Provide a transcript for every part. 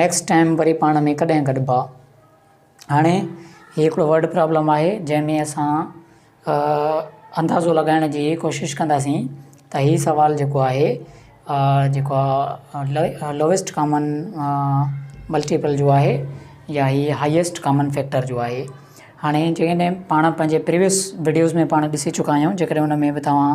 Next time وري پاڻ ۾ ڪڏهن گڏبا. هاڻي هي هڪڙو ورڊ پرابلم آهي جنهن ۾ اسان اندازو لڳائڻ جي ڪوشش ڪنداسين ته هي سوال جيڪو آهي جيڪو آهي لوئيسٽ ڪامن ملٽيپل جو آهي يا هي هائيسٽ ڪامن فيڪٽر جو آهي هاڻي جيڪڏهن پاڻ پنهنجي پريوئس وڊيوز ۾ پاڻ ڏسي چڪا آهيون جيڪڏهن ان ۾ به توهان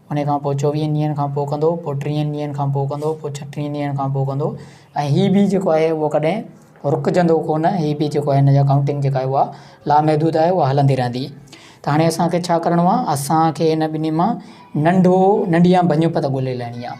انهيء کان پوء چوويهن ڏينهن کان پوء ڪندو، پوء ٽيهن ڏينهن کان پوء ڪندو، پوء ڇٽيهن ڏينهن کان پوء ڪندو ۽ هي به جيڪو آهي اهو ڪڏهن رڪجندو ڪونه، هي به جيڪو آهي هن جا ڪائونٽنگ جيڪا آهي اها لامحدود آهي اها هلندي رهندي. ته هاڻي اسان کي ڇا ڪرڻو آهي؟ اسان کي هن ٻنهي مان ننڍو ننڍيان ڀڃپ ته ڳولي لهڻي آهي.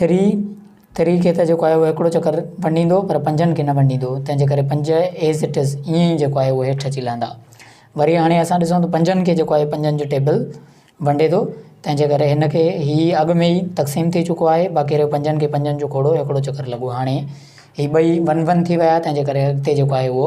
ٿري، ٿري کي ته جيڪو آهي اهو هڪڙو چڪر ونڊيندو پر پنجن کي نه ونڊيندو تنهن جي ڪري پنج ايز اٽ از ائين ئي جيڪو آهي اهو هيٺ اچي لهندا. وري هاڻي اسان ڏسون ته پنجن کي جيڪو آهي پنجن جو ٽيبل ونڊي ٿو تنهن جي ڪري هن کي هي اڳ ۾ ئي تقسيم ٿي چڪو آهي باقي رهيو پنجن کي پنجن جو کوڙو هڪڙو چڪر لڳو هاڻي هي ٻئي ون ون ٿي ويا تنهن جي ڪري اڳتي جيڪو آهي اهو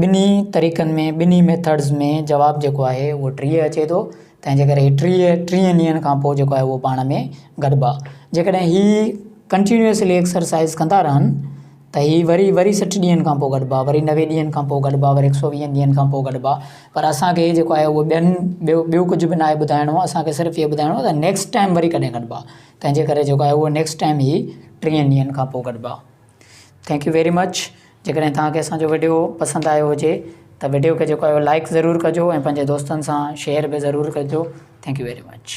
ٻنهي طريقن ۾ ٻنهي ميٿڊز ۾ جواب جيڪو آهي اهو ٽيهه اچي ٿو تنهن جي ڪري ٽيهه ٽيهن ڏينهن کان پوء جيڪو آهي اهو پاڻ ۾ گڏبا جيڪڏهن هي ڪنٽينيوسلي ايڪسرسائز ڪندا رهن ته هي وري وري سٺ ڏينهن کان پوء گڏبا وري نوي ڏينهن کان پوء گڏبا وري هڪ سو ويهن ڏينهن کان پوء گڏبا پر اسانکي جيڪو آهي اهو ٻين ٻيو ٻيو ڪجهه به ناهي ٻڌائڻو اسانکي صرف اهو ٻڌائڻو آهي ته نيڪسٽ ٽائيم وري ڪڏهن گڏبا تنهن جي ڪري جيڪو آهي اهو نيڪسٽ ٽائيم هي ٽيهن ڏينهن کان پوء گڏبا ٿينڪ يو ويري مچ جيڪڏهن توهان کي اسان جو وڊيو پسند آيو هجي ته وڊيو کي جيڪو آهي لائڪ ضرور ڪجو ۽ پنهنجي دوستن سان شيئر به ضرور ڪجو ٿينڪ يو ويري مچ